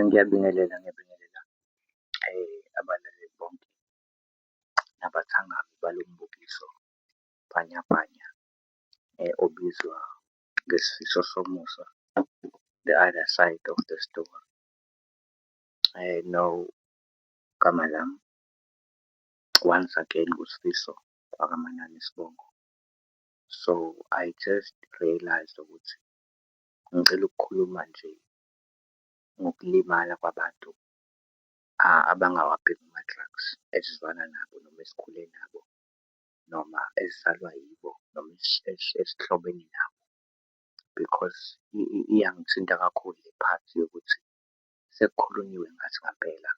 Ngiyabingelela, ngiyabingelela abalaleli bonke nabathakathi balo mbukiso Bhanyabhanya obizwa ngesifiso somusa, The Other Side Of The Story. Nawu igama lami once again uSfiso wakaManani Sibongo. So I just realised ukuthi ngicela ukukhuluma nje ngokulimala kwabantu abangawabhemi ama-drugs esizwana nabo noma esikhule nabo noma esizalwa yibo noma esihlobene nabo because iyangithinta kakhulu le part yokuthi sekukhulunyiwe ngathi ngampela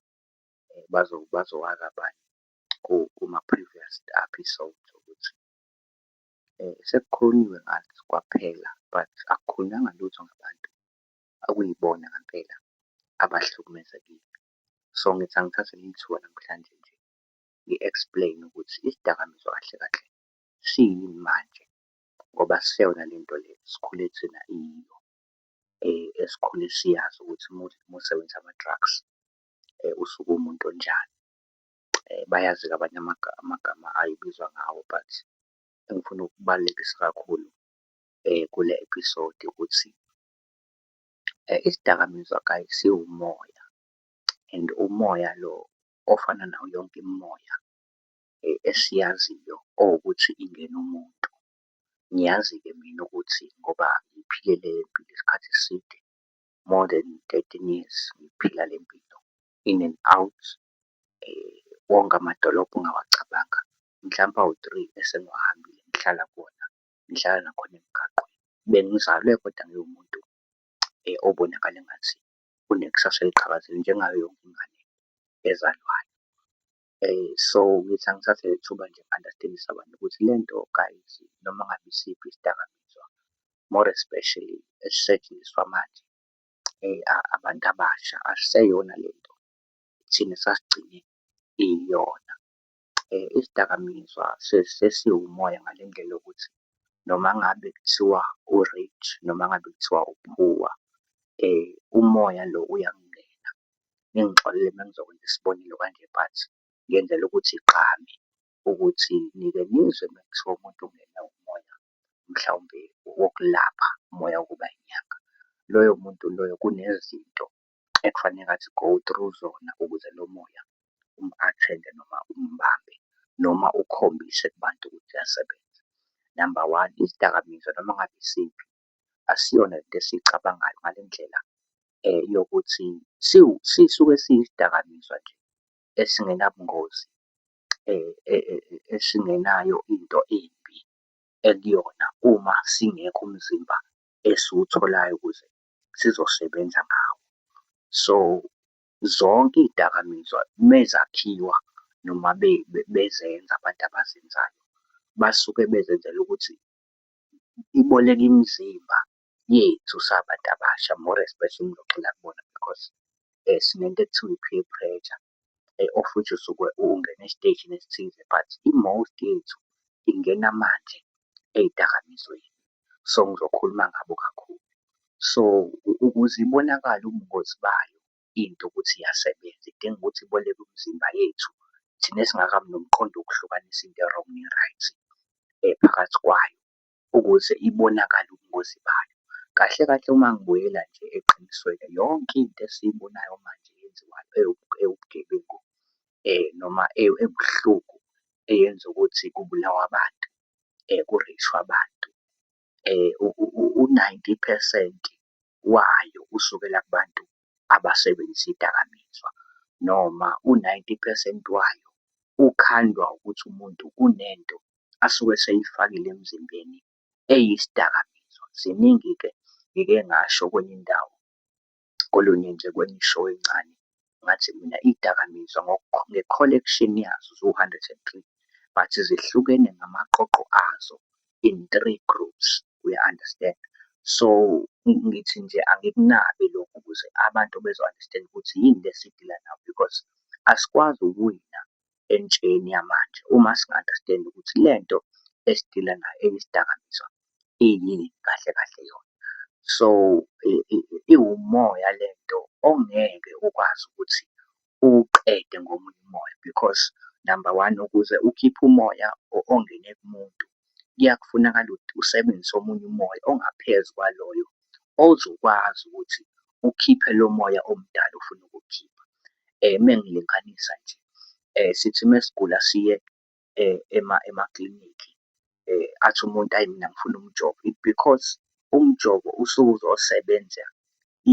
bazowazi abanye kuma-previous episode ukuthi sekukhulunyiwe ngathi kwaphela but akukhulunyanga lutho ngabantu akuyibona ngampela abahlukumezekile. So ngithi angithathe leli thuba namhlanje nje ngi-explain-e ukuthi isidakamizwa kahle kahle siyini manje ngoba siseyona le nto le sikhule thina iyiyo esikhule siyazi ukuthi uma usebenzisa ama-drugs usuke uwumuntu onjani. Bayazi-ke abanye amagama ayibizwa ngawo but engifuna ukubalulekisa kakhulu eh, kule episode ukuthi eh, isidakamizwa guys siwumoya and umoya lo ofana nawo yonke imimoya eh, esiyaziyo owukuthi ingena umuntu ngiyazi-ke mina ukuthi ngoba ngiphile le mpilo isikhathi eside more than 13 years ngiphila le mpilo in and out eh, wonke amadolobha ungawacabanga mhlawumbe awu-three esengiwahambile ngihlala kuwona ngihlala nakhona emgaqweni. Bengizalwe kodwa ngiwumuntu obonakala engathi unekusasa eliqhakazile njengayo yonke ingane ezalwayo. So, ngithi angithathe leli thuba nje ngi-understand-ise abantu ukuthi le nto kayithi noma ngabe isiphi isidakamizwa more especially esisetshenziswa manje abantu abasha, asiseyona le nto thina esasigcine iyona. Isidakamizwa sesiwumoya ngale ndlela yokuthi noma ngabe kuthiwa u-rich noma ngabe kuthiwa u-poor umoya lo uyangena. Ningixolele uma ngizokwenza isibonelo kanje but ngenzela ukuthi igqame ukuthi nike nizwe uma kuthiwa umuntu ungenwe umoya mhlawumbe wokulapha, umoya wokuba inyanga. Loyo muntu loyo kunezinto ekufaneke athi go through zona ukuze lo moya umu-attend-e noma umubambe noma ukhombise kubantu ukuthi uyasebenza. Number one, izidakamizwa noma ngabe isiphi asiyona lento esiyicabangayo ngale ndlela yokuthi sisuke siyisidakamizwa nje esingenabungozi esingenayo into embi ekuyona uma singekho umzimba esiwutholayo ukuze sizosebenza ngawo. So zonke iy'dakamizwa mezakhiwa noma bezenza abantu abazenzayo basuke bezenzela ukuthi iboleke imizimba yethu sabantu abasha more especially ngigxila kubona because sinento ekuthiwa i-peer pressure. of which usuke ungena esiteshini esithize but i-most yethu ingena manje ey'dakamizweni. So ngizokhuluma ngabo kakhulu. So ukuze ibonakale ubungozi bayo into ukuthi iyasebenza idinga ukuthi iboleke umzimba yethu thina esingakabi nomqondo wokuhlukanisa into e-wrong ne-right phakathi kwayo. ukuze ibonakale ubungozi bayo. Kahle kahle uma ngibuyela nje eqinisweni yonke into esiyibonayo manje yenziwayo ewubugebengu noma ebuhlungu eyenza ukuthi kubulawa abantu kureyshwe abantu. U-ninety phesenti wayo usukela kubantu abasebenzisa idakamizwa noma u-90 percent wayo ukhandwa ukuthi umuntu unento asuke eseyifakile emzimbeni eyisidakamizwa. Ziningi-ke ngike ngasho kwenye indawo kolunye nje kwenye ishow encane ngathi mina iy'dakamizwa nge-collection yazo ziwu-103 but zihlukene ngamaqoqo azo in three groups uya understand so ngithi nje angikunabi lokhu ukuze abantu bezo-understand ukuthi yini le sidila nayo because asikwazi ukuwina entsheni yamanje uma singa-understand ukuthi le nto esidila nayo eyisidakamizwa iyini kahle kahle yona so iwumoya le nto ongeke ukwazi ukuthi uwuqede ngomunye umoya because number one ukuze ukhiphe umoya ongene kumuntu kuyakufunakala ukuthi usebenzise omunye umoya ongaphezu kwaloyo ozokwazi ukuthi ukhiphe lo moya omdala ofuna ukukhipha. Uma ngilinganisa nje sithi uma sigula siye emaklinikhi athi umuntu ayi mina ngifuna umjovo. It's because umjovo usuke uzosebenza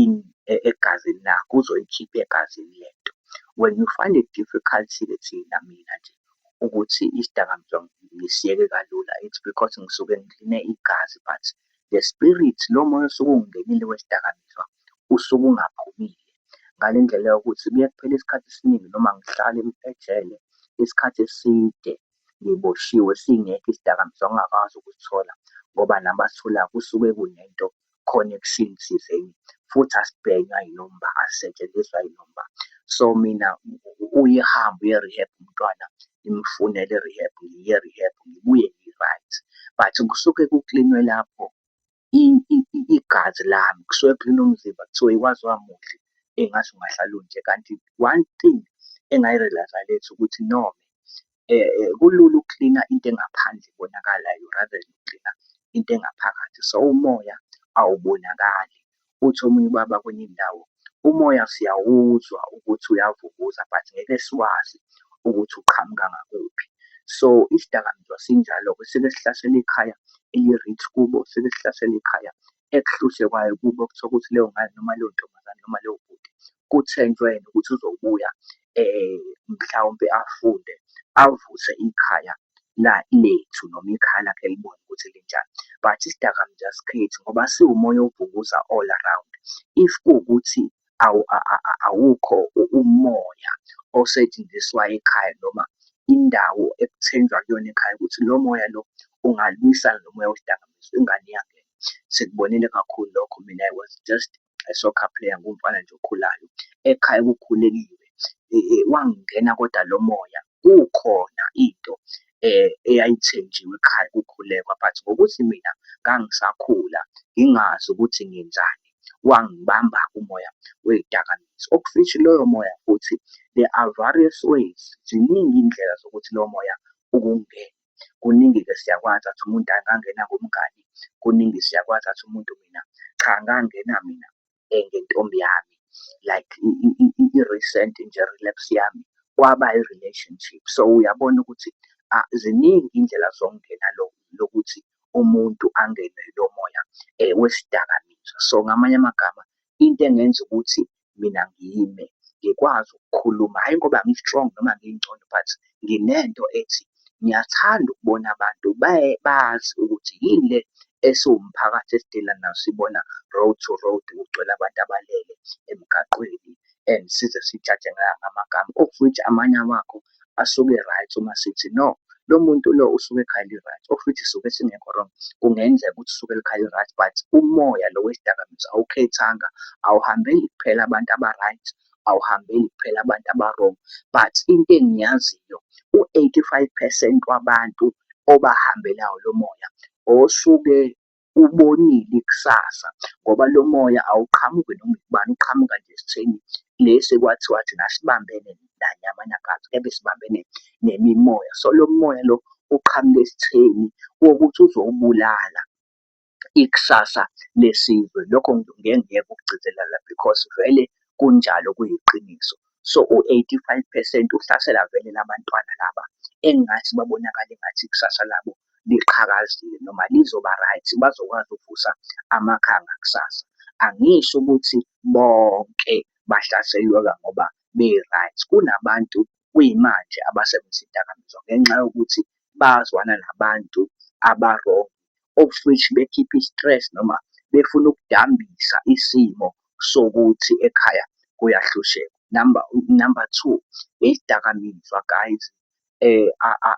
in egazini lakho, uzoyikhipha egazini le nto. When you find it difficult-ke thina mina nje ukuthi isidakamizwa ngisiyeke kalula it's because ngisuke ngikline igazi but the spirit lo moya osuke ungenile wesidakamizwa usuke ungaphumile ngale ndlela yokuthi kuye kuphele isikhathi esiningi noma ngihlale ejele isikhathi eside ngiboshiwe singekho isidakamizwa ngingakwazi ukusithola ngoba nabasithola kusuke kunento khona ekusini thizeni futhi asibhenywa yinomba asisetshenziswa yinomba so mina uyihambe uye-rehab umntwana ngimfunele rehab ngiye rehab ngibuye ngi-right but kusuke kuklinwe lapho igazi lami kusuke kuklina umzimba kuthiwa ikwazi wamuhle engathi ungahlala unje kanti one thing engayi-realize-a lethi ukuthi no eh, eh kulula ukuklina into engaphandle ibonakalayo rather than ukuklina into engaphakathi so umoya awubonakali uthi omunye ubaba kwenye indawo umoya siyawuzwa ukuthi uyavukuza but ngeke siwazi ukuthi uqhamuka ngakuphi so isidakamizwa sinjalo-ke sike sihlasele ikhaya eli-rich kubo sike sihlasele ikhaya ekuhluhle kwayo kubo kuthiwa ukuthi leyo ngane noma leyo ntombazane noma leyo bhuti kuthenjwe yena ukuthi uzobuya mhlawumpe afunde avuse ikhaya la lethu noma ikhaya lakhe libone ukuthi linjani but isidakamizwa sikhethu ngoba siwumoya ovukuza all around if kuwukuthi awukho umoya osetshenziswa ekhaya noma indawo ekuthenjwa kuyona ekhaya ukuthi lo moya lo ungalwisana nomoya wesidakamizwa ingane yakhe sikubonile kakhulu lokho mina i was just soccer player ngumfana nje okhulayo ekhaya kukhuleliwe e, e, wangena kodwa lo moya kukhona into eh eyayithenjiwe ekhaya kukhulekwa but ngokuthi mina ngangisakhula ngingazi ukuthi ngenzani wangibamba umoya wezidakamizwa okufishi loyo moya futhi there are various ways ziningi indlela zokuthi lowo moya ukungena kuningi ke siyakwazi athi umuntu angangena ngomngani kuningi siyakwazi athi umuntu mina cha ngangena mina eh, ngentombi yami like i-recent nje relapse yami kwaba i-relationship so uyabona ukuthi ah, ziningi indlela zokungena lokuthi umuntu angenwe lo moya um wesidakamizwa so ngamanye amagama into engenza ukuthi mina ngime ngikwazi ukukhuluma hhayi ngoba ngi-strong noma ngingcono but nginento ethi ngiyathanda ukubona abantu bazi ukuthi yini le esiwumphakathi esidila nayo sibona road to road kugcwele abantu abalele emgaqweni and size sithathe ngamagama of which amanye awakho asuke right uma sithi no lo muntu lo usuke ekhaya li-right ofithi suke singekho wrong kungenzeka ukuthi usuke likhaya li-right but umoya lo wesidakamizwa awukhethanga awuhambeli kuphela abantu aba-right awuhambeli kuphela abantu aba-wrong but into engiyaziyo u-85 percent wabantu obahambelayo lo moya osuke ubonile ikusasa ngoba lo moya awuqhamuki noma ubani uqhamuka nje esitheni lesi ekwathiwa thina sibambene nanyama nakathi kebe sibambene nemimoya so lo moya lo uqhamuka esitheni wokuthi uzowubulala ikusasa lesizwe lokho ngeke ngiyeke ukugcizelela because vele kunjalo kuyiqiniso So u-85 percent uhlasela vele labantwana laba engathi babonakala engathi ikusasa labo liqhakazile noma lizoba right bazokwazi ukuvusa amakhaya ngakusasa. Angisho ukuthi bonke bahlaselweka ngoba be-right. Kunabantu kuyimanje abasebenzisa idakamizwa ngenxa yokuthi bazwana nabantu aba-wrong of which bekhipha i-stress noma befuna ukudambisa isimo sokuthi ekhaya kuyahlushekwa. Number number two, izidakamizwa guys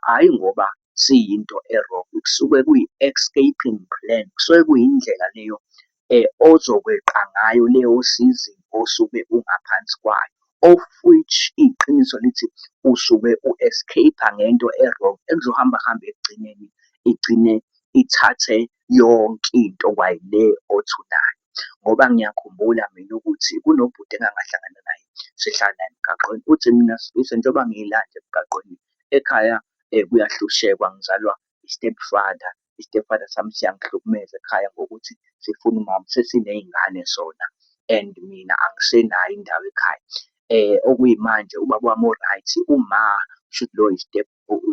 hhayi ngoba siyinto e-wrong kusuke kuyi-escaping plan, kusuke kuyindlela leyo ozokweqa ngayo leyo sizini osuke ungaphansi kwayo. Of which iqiniso lithi usuke u-escape-a ngento e-wrong ekuzohamba kuhambe ekugcineni igcine ithathe yonke into kwayile othi unayo. Ngoba ngiyakhumbula mina ukuthi kunobhuti engangahlangana naye sihlala naye emgaqweni, uthi mina Sfiso njengoba ngilana nje emgaqweni ekhaya kuyahlushekwa ngizalwa i-step father istepfather sami siyangihlukumeza ekhaya ngokuthi sifuna umama sesiney'ngane sona and mina angisenayo indawo ekhaya eh okuyimanje ubaba wami o-right uma should lo step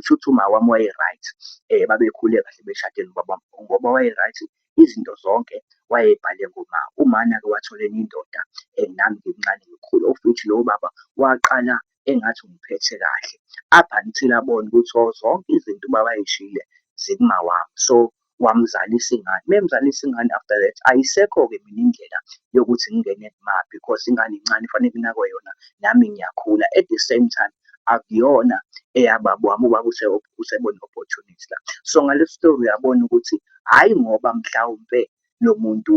shuthi uma wami waye-right eh babekhule kahle beshade nobaba ngoba waye-right izinto zonke wayebhale ngoma umana-ke wathola enye indoda um nami ngimncane ngikhulu of which lowo baba waqala engathi ungiphethe kahle up until abone ukuthi oh zonke izinto ubaba ayishile zikumawami so wamzalisa ingane memzalisa ingane after that ayisekho-ke mina indlela yokuthi ngingene kumaphi because ingane incane fanele kunakwe yona nami ngiyakhula at the same time akuyona eyababa wami ubaba usebona opportunity la so ngale story uyabona ukuthi hhayi ngoba mhlawumpe lo muntu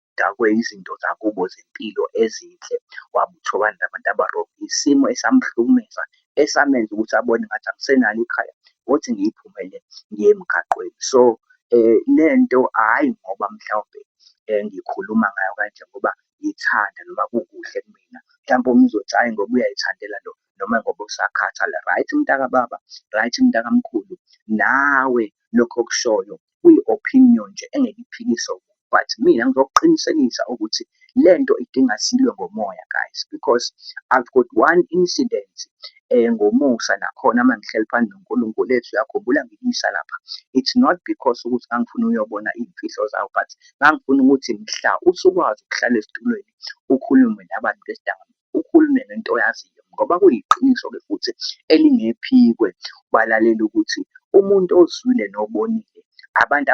udakwe izinto zakubo zempilo ezinhle waba uthobani labantu abarobho isimo esamhlukumeza esamenza ukuthi abone ngathi angisenalo ikhaya ngothi ngiyiphumele ngiye emgaqweni so eh lento hayi ngoba mhlawumbe eh, ngikhuluma ngayo kanje ngoba ngithanda noma kukuhle kumina mhlawumbe omunye uzothi hayi ngoba uyayithandela lo noma ngoba usakhathala right mntaka baba right mntaka mkhulu nawe lokho okushoyo kuyi opinion nje engeke iphikise umuntu but mina ngizokuqinisekisa ukuthi lento idinga silwe ngomoya guys because I've got one incident eh ngomusa nakhona uma ngihleli phansi noNkulunkulu ethi uyakhumbula ngikuyisa lapha it's not because ukuthi ngangifuna uyobona iy'mfihlo zawo but ngangifuna ukuthi mhla usukwazi ukuhlala esitulweni ukhulume nabantu besidakamizwa ukhulume ngento oyaziyo ngoba kuyiqiniso-ke futhi elingephikwe balalele ukuthi umuntu ozwile nobonile abantu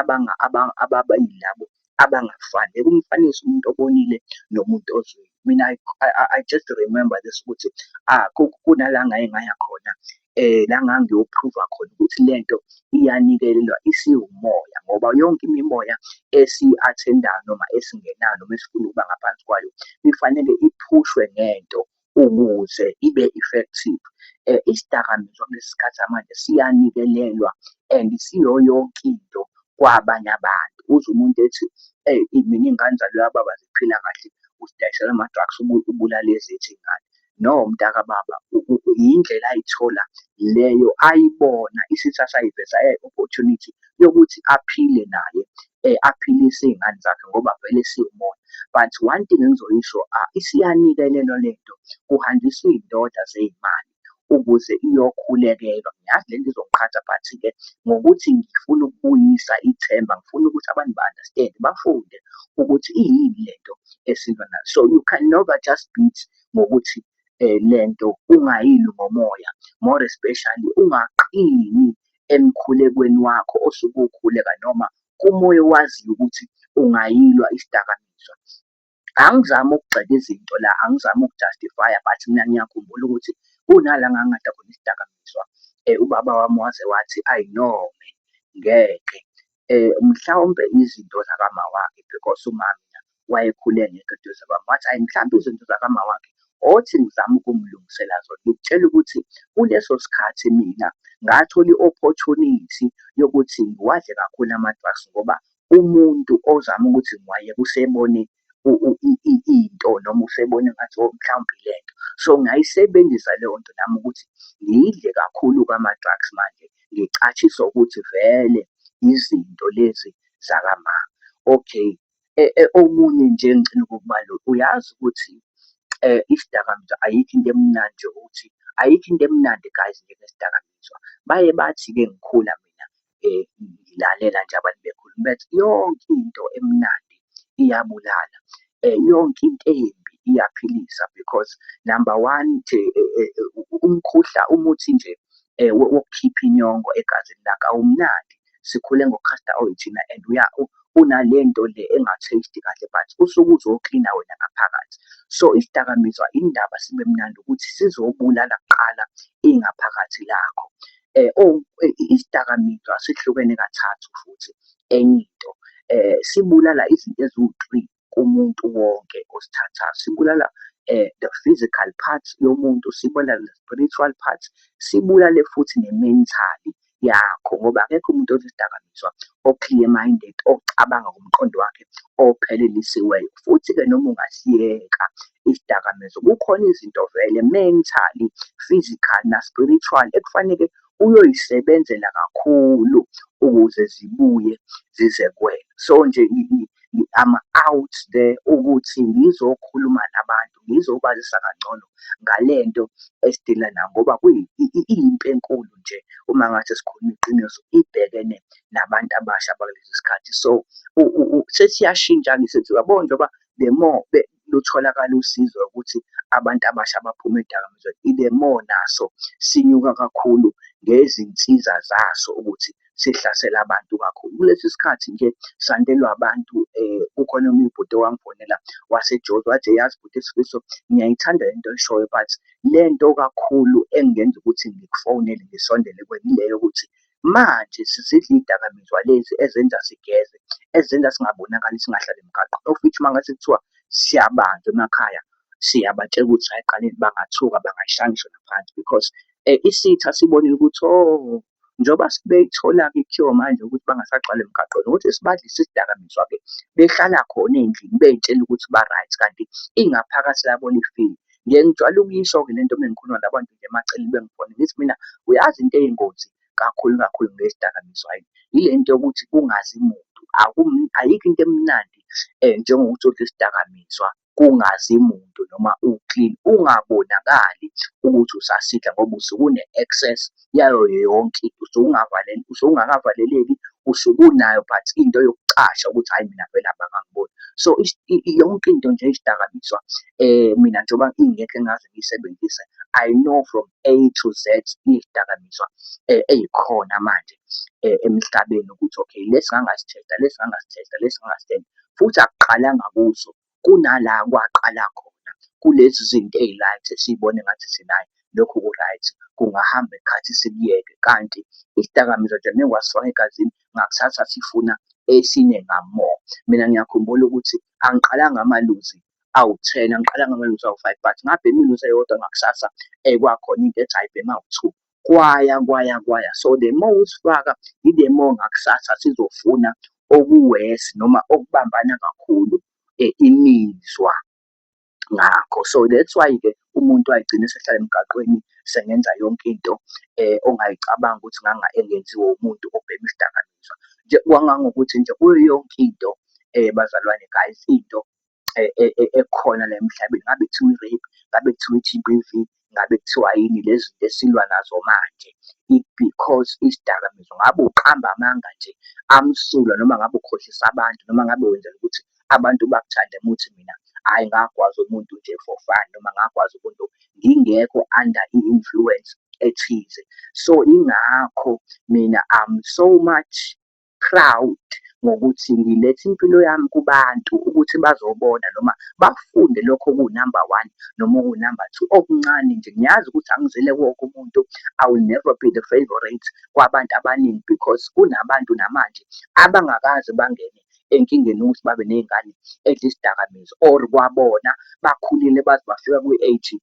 ababa yilabo abangafani ekumfanisa umuntu obonile nomuntu ozwile mina I, I, I just remember this ukuthi ah kunala ngaye ngaya khona eh la ngangiyoprova khona ukuthi lento iyanikelelwa isiwumoya ngoba yonke imimoya esiyi-athendayo noma esingenayo noma esifuna ukuba ngaphansi kwayo ifanele iphushwe ngento ukuze ibe effective eh isidakamizwa kulesikhathi manje siyanikelelwa and siyo yonke into kwabanye abantu uze umuntu ethi hey mina ingane zalo yababa ziphila kahle usidayisela ama-drugs ubulala ezethu ingane no mntaka baba yindlela ayithola leyo ayibona isithi asayiveza opportunity yokuthi aphile naye eh, aphilise iy'ngane zakhe ngoba vele siwumona but one thing engizoyisho ah, isiyanikelelwa le nto kuhanjiswa iy'ndoda zey'mali ukuze iyokhulekelwa ngiyazi le nto izoqhatha but-ke ngokuthi ngifuna ukubuyisa ithemba ngifuna ukuthi abantu ba-understand bafunde ukuthi iyini le nto esilwa nayo so you can never just beat ngokuthi lento ungayilwi ngomoya more especially ungaqini emkhulekweni wakho osuke ukhuleka noma kumoya owaziyo ukuthi ungayilwa isidakamizwa. Angizami ukugxeka izinto la, angizami ukujustify-a but mina ngiyakhumbula ukuthi kunala ngangingadla khona isidakamizwa ubaba wami waze wathi ayi no ngeke mhlawumbe izinto zakamawakhe because umama wayekhule engekho eduze kwami. Wathi, hhayi mhlawumbe izinto zakamawakhe othi ngizame ukumlungisela zona. Ngikutshela ukuthi kuleso sikhathi mina ngathola i-opportunity yokuthi ngiwadle kakhulu ama-drugs ngoba umuntu ozama ukuthi ngiwayeke usebone into noma usebona engathi o mhlawumbe ilento. So ngayisebenzisa leyo nto nami ukuthi ngidle kakhulu kwama-drugs manje ngicatshiswa ukuthi vele izinto lezi zakamama. Okay, okunye nje engicela ukukubalula uyazi ukuthi isidakamizwa ayikho into emnandi nje ukuthi ayikho into emnandi guys njengesidakamizwa. Baye bathi-ke ngikhula mina eh, ngilalela nje abantu bekhuluma bethi yonke into emnandi iyabulala eh, yonke into embi iyaphilisa because number one nje eh, eh, eh umkhuhla umuthi nje eh, wokukhipha inyongo egazini lakho awumnandi sikhule ngocaster oil thina and uya unalento le enga-taste kahle but usuke uzoklina wena ngaphakathi so isidakamizwa indaba sibe mnandi ukuthi sizobulala kuqala ingaphakathi lakho Isidakamizwa sihlukene kathathu futhi enye into sibulala izinto eziwu-three kumuntu wonke osithathayo. Sibulala the physical part yomuntu, sibulale ne-spiritual part, sibulale futhi ne-mentally yakho ngoba akekho umuntu odla isidakamizwa o-clear minded, ocabanga ngomqondo wakhe ophelelisiweyo. Futhi-ke noma ungasiyeka izidakamizwa kukhona izinto vele mentally, physical na spiritual ekufanele uyoyisebenzela kakhulu ukuze zibuye zize kuwena. So nje I'm out there ukuthi ngizokhuluma nabantu ngizobazisa kangcono ngalento esidila nayo ngoba kuyimpi enkulu nje uma ngathi sikhuluma iqiniso ibhekene nabantu abasha bakulesi sikhathi so sesiyashintsha-ke sethi uyabona njengoba the more lutholakala usizo ukuthi abantu abasha baphume edakamizweni ibe more naso sinyuka kakhulu ngezinsiza zaso ukuthi sihlasela abantu kakhulu kulesi sikhathi nje sandelwa abantu um kukhona omunye ubhuti owangifonela wasejozi wathi yazi bhuti isifiso ngiyayithanda le nto oyishoyo but le nto kakhulu engenza ukuthi ngikufonele ngisondele kwenileyo ukuthi Manje sizidla iy'dakamizwa lezi ezenza sigeze, ezenza singabonakali singahlali emgaqweni. Of which uma ngase kuthiwa siyabanjwa emakhaya, siyabatshela ukuthi hhayi qanini bangathuka bangayishaya ngisho naphansi because um isitha sibonile ukuthi o oh, njengoba sebeyithola-ke kuthiwa manje ukuthi bangasagcwali emgaqweni ukuthi sibadlise isidakamizwa-ke behlala khona ey'ndlini bey'tshela ukuthi ba-right kanti ingaphakathi labo lifile. Ngiye ngijwayele ukuyisho-ke le nto uma ngikhuluma nabantu nje emaceleni bengibona ngithi mina uyazi into eyingozi kakhulu kakhulu ngezidakamizwa yini yile nto yokuthi kungazi muntu ayikho into emnandi um njengokuthi udle isidakamizwa kungazi muntu noma u-clean ungabonakali ukuthi usasidla ngoba usuke une-access yayo yonke into usuke ungavaleli usuke ungakavaleleki usuke unayo but into yokucasha ukuthi hhayi mina vele abangangiboni so yonke into nje izidakamizwa um mina njengoba ingekho engaze ngiyisebenzise I know from A to Z izidakamizwa um ey'khona manje um emhlabeni ukuthi okay lesi ngangasithetha lesi ngangasithetha lesi ngangasithetha futhi akuqalanga kuso kunala kwaqala khona kulezi zinto eyi-right esiyibona engathi thina hhayi lokhu ku-right kungahamba ikhathi sikuyeke kanti isidakamizwa nje ngeke wasifaka egazini ngakusasa sifuna esine ngamore mina ngiyakhumbula ukuthi angiqalanga amaluzi awu-ten angiqalanga amaluzi awu-five but ngabhema iluzi eyodwa ngakusasa ekwakhona into ethi ayibhema awu-two kwaya kwaya kwaya so the more usifaka i-the more ngakusasa sizofuna okuwesi noma okubambana kakhulu eh, imizwa ngakho so that's why ke umuntu ayigcine sehlala emgaqweni sengenza yonke into eh ongayicabanga ukuthi nganga engenziwa umuntu obhema isidakamizwa nje kwangangokuthi nje kuyo yonke into eh bazalwane guys into ekhona la emhlabeni ngabe kuthiwa i-rape ngabe kuthiwa i-G_B_V ngabe kuthiwa yini lezi zinto esilwa nazo manje it because isidakamizwa ngabe uqamba amanga nje amsulwa noma ngabe ukhohlisa abantu noma ngabe wenzela ukuthi abantu bakuthande muthi mina hhayi ngagwaza umuntu nje for fun noma ngagwaza umuntu ngingekho under i-influence ethize so ingakho mina I'm so much proud ngokuthi ngiletha impilo yami kubantu ukuthi bazobona noma bafunde lokho okuwu-number one noma okuwu-number two okuncane nje ngiyazi ukuthi angizile wonke umuntu i will never be the favorite kwabantu abaningi because kunabantu namanje abangakaze bangene enkingeni ukuthi babe ney'ngane edla isidakamizwa or kwabona bakhulile baze bafika kwi-age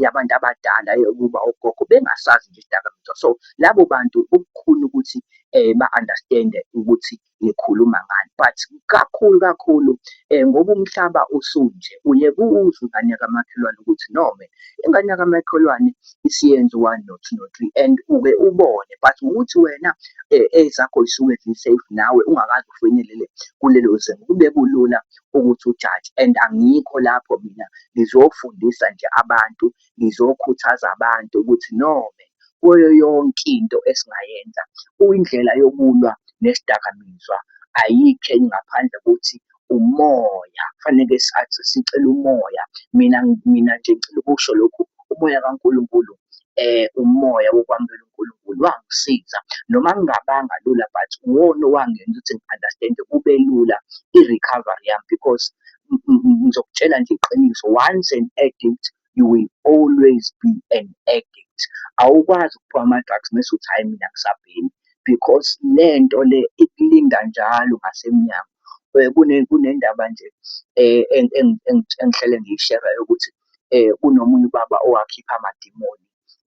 yabantu abadala yokuba ogogo bengasazi nje izidakamizwa so labo bantu kubukhuni ukuthi um ba-understand-e ukuthi ngikhuluma ngani but kakhulu kakhulu um ngoba umhlaba usunje uye kuwuze ingane yakamakhelwane ukuthi no man ingane yakamakhelwane isiyenze one no two no three and uke ubone but ngokuthi wena um ezakho zisuke zi-safe nawe ungakaze ufinyelele kulelo zinga kube kulula ukuthi ujaje and angikho lapho mina ngizofundisa nje abantu ngizokhuthaza abantu ukuthi nome kuyo yonke into esingayenza kuyindlela yokulwa nesidakamizwa ayikho enye ngaphandle kokuthi umoya kufanele sathi sicela umoya mina mina nje ngicela ukusho lokhu umoya kaNkulunkulu eh umoya wokwamukela uNkulunkulu wangisiza noma ngingabanga lula but uwona owangenza ukuthi ngi-understand kube lula i-recovery yami because ngizokutshela nje iqiniso once an addict you will always be an addict awukwazi ukuphiwa ama-drugs mese uthi hhayi mina ngisabhemi because le nto le ikulinda njalo ngasemnyango um kunendaba nje um engihlele ngiyishera yokuthi um kunomunye ubaba owakhipha amadimoni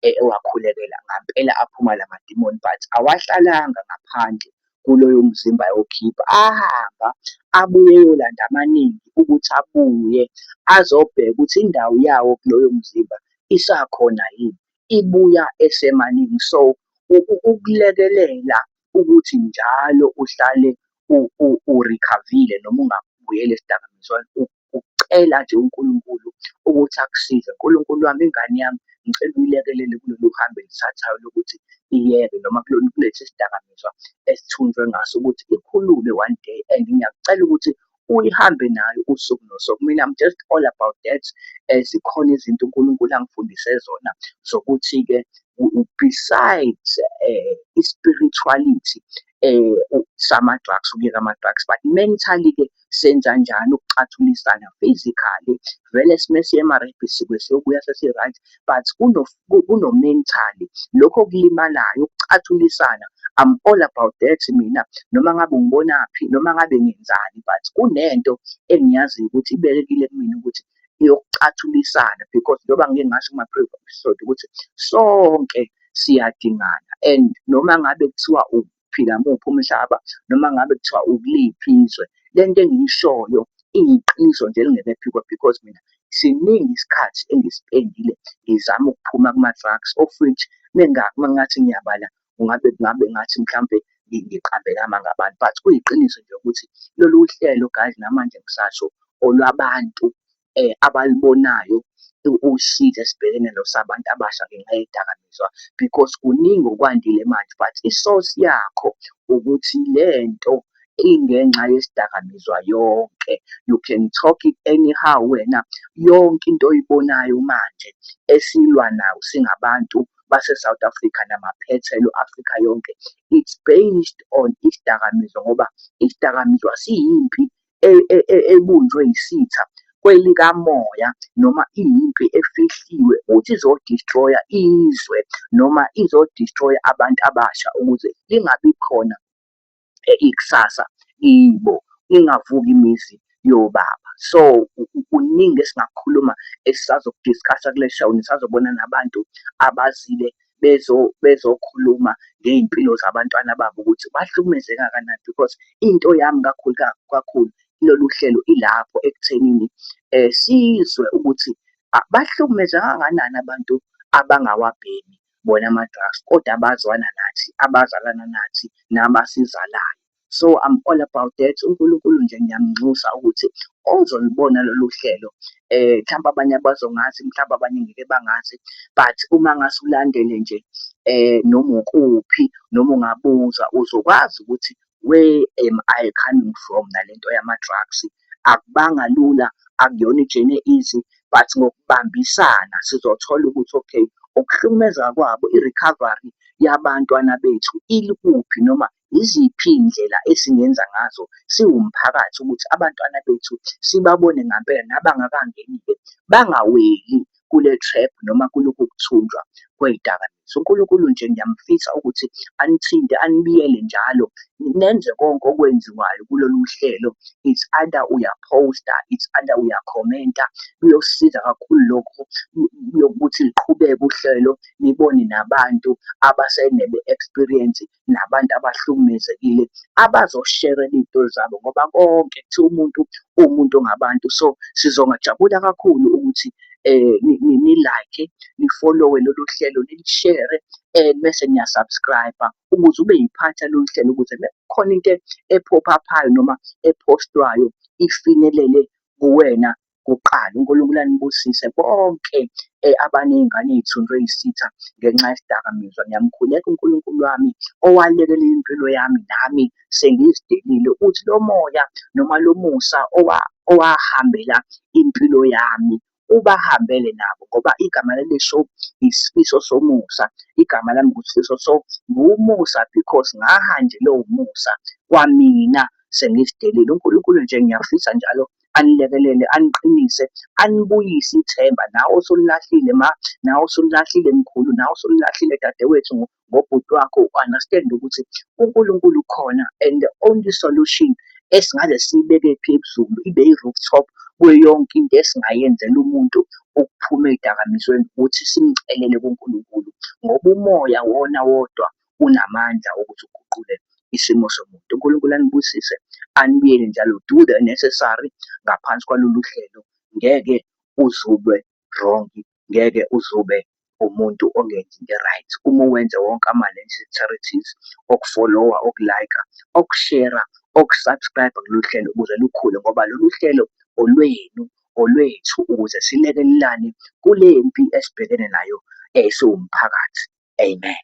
e-, ewakhulekela ngampela aphuma la madimoni but awahlalanga ngaphandle kuloyo mzimba ayokhipha, ahamba abuye eyolanda amaningi ukuthi abuye azobheka ukuthi indawo yawo kuloyo mzimba isakhona yini, ibuya esemaningi. So ukulekelela ukuthi njalo uhlale urikhavile noma ungabuyeli esidakamizweni ukucela nje uNkulunkulu ukuthi akusize. Nkulunkulu wami ingane yami ngicela uyilekelele kulolu hambo elithathayo lokuthi iyeke noma kulolu kulesi sidakamizwa esithunjwe ngaso ukuthi ikhulume one day and ngiyakucela ukuthi uyihambe nayo usuku nosuku mina I'm just all about that eh, zikhona izinto uNkulunkulu angifundise zona zokuthi-ke besides eh, i-spirituality um sama-drugs ukuyeka ama-drugs but mentally-ke senza njani ukucathulisana physically vele sime siye-emarabi sike siyobuya sesi-right but kuno-mentally lokho okulimalayo ukucathulisana I'm all about that mina noma ngabe ngibonaphi noma ngabe ngenzani but kunento engiyaziyo ukuthi ibekekile kumina ukuthi yokcathulisana because njengoba ngike ngasho kuma-previous episode ukuthi sonke siyadingana and noma ngabe kuthiwa uphila muphi umhlaba noma ngabe kuthiwa ukuliphi izwe le nto engiyishoyo iyiqiniso nje elingeke phikwe because mina siningi isikhathi engisipendile ngizama ukuphuma kuma-drugs of which mengathi ngiyabala kungabe kungabe ngathi mhlampe ngiqambekama ngabantu but kuyiqiniso nje ukuthi lolu hlelo guys namanje ngisasho olwabantu um abalibonayo usizi esibhekene nosabantu abasha ngenxa yedakamizwa because kuningi okwandile manje but isource yakho ukuthi lento ingenxa yesidakamizwa yonke you can talk it anyhow wena yonke into oyibonayo manje esilwa nayo singabantu base South Africa namaphethelo Africa yonke it's based on isidakamizwa ngoba isidakamizwa siyimpi e, e, e, ebunjwe isitha kwelikamoya noma iyimpi efihliwe ukuthi izodestroya izwe noma izodestroya abantu abasha ukuze lingabi khona ikusasa ibo ingavuka imizi yobaba so kuningi esingakhuluma esisazokudiscussa kule show nisazobona nabantu abazile bezo bezokhuluma ngey'mpilo zabantwana babo ukuthi bahlukumezeka kanani because into yami kakhulu kakhulu lolu hlelo ilapho ekuthenini um sizwe ukuthi bahlukumezeka kanganani abantu abangawabhemi bona ama-drugs kodwa abazwana nathi, abazalana nathi nabasizalayo. So I'm all about that. UNkulunkulu nje ngiyamnxusa ukuthi ozolibona lolu hlelo eh mhlawumbe abanye abazongazi mhlawumbe abanye ngeke bangazi but uma ngase ulandele nje eh noma ukuphi noma ungabuza uzokwazi ukuthi where am I coming from nalento yama-drugs akubanga lula akuyona ijene easy but ngokubambisana sizothola ukuthi okay ukuhlukumeza kwabo i-recovery yabantwana bethu ilikuphi noma yiziphi iy'ndlela esingenza ngazo siwumphakathi ukuthi abantwana bethu sibabone ngampela nabangakangeni-ke bangaweli kule trap noma kulokhu kuthunjwa kwey'dakamizwa. UNkulunkulu nje ngiyamfisa ukuthi anithinte anibiyele njalo nenze konke okwenziwayo kulolu hlelo it's either uyaphosta it's either uyakhomenta kuyosiza kakhulu lokho yokuthi liqhubeke uhlelo nibone nabantu abasenebe-experience nabantu abahlukumezekile abazoshere iy'tori zabo ngoba konke kuthiwa umuntu uwumuntu ngabantu. So sizongajabula kakhulu ukuthi um ni-like, nifolowe lolu hlelo, nilishere and mese niya-subscribe-a ukuze ube yiphathi yalolu hlelo ukuze mekukhona into ephopha-phayo noma ephostwayo ifinyelele kuwena kuqala. UNkulunkulu anibusise bonke eh, abaney'ngane ey'thunjwe yisitha ngenxa yesidakamizwa. Ngiyamkhuleka uNkulunkulu wami owalekelela impilo yami nami sengizidelile ukuthi lo moya noma lo musa owahambela impilo yami ubahambele nabo ngoba igama laleso isifiso somusa igama lami ngusifiso so nguwumusa because ngahanjelwe umusa kwamina sengizidelile uNkulunkulu nje ngiyafisa njalo anilekelele aniqinise anibuyise ithemba nawe osulilahlile ma nawe osulilahlile mkhulu nawe osulilahlile dadewethu ngobhuti wakho u-understand ukuthi uNkulunkulu ukhona and the only solution esingaze siyibeke phi ebuhlungu ibe i-rooftop kuyo yonke into esingayenzela umuntu ukuphuma ey'dakamizweni ukuthi simcelele kuNkulunkulu ngoba umoya wona wodwa unamandla okuthi uguqule isimo somuntu uNkulunkulu anibusise anibiyele njalo do the necessary ngaphansi kwalolu hlelo ngeke uzube wrong ngeke uzube umuntu ongenzi into right uma wenze wonke ama-necessarities okufollowa okulayika okushera okusubscribe kulolu hlelo ukuze lukhule ngoba lolu hlelo olwenu olwethu ukuze silekelelane kule mpi esibhekene nayo siwumphakathi. Amen.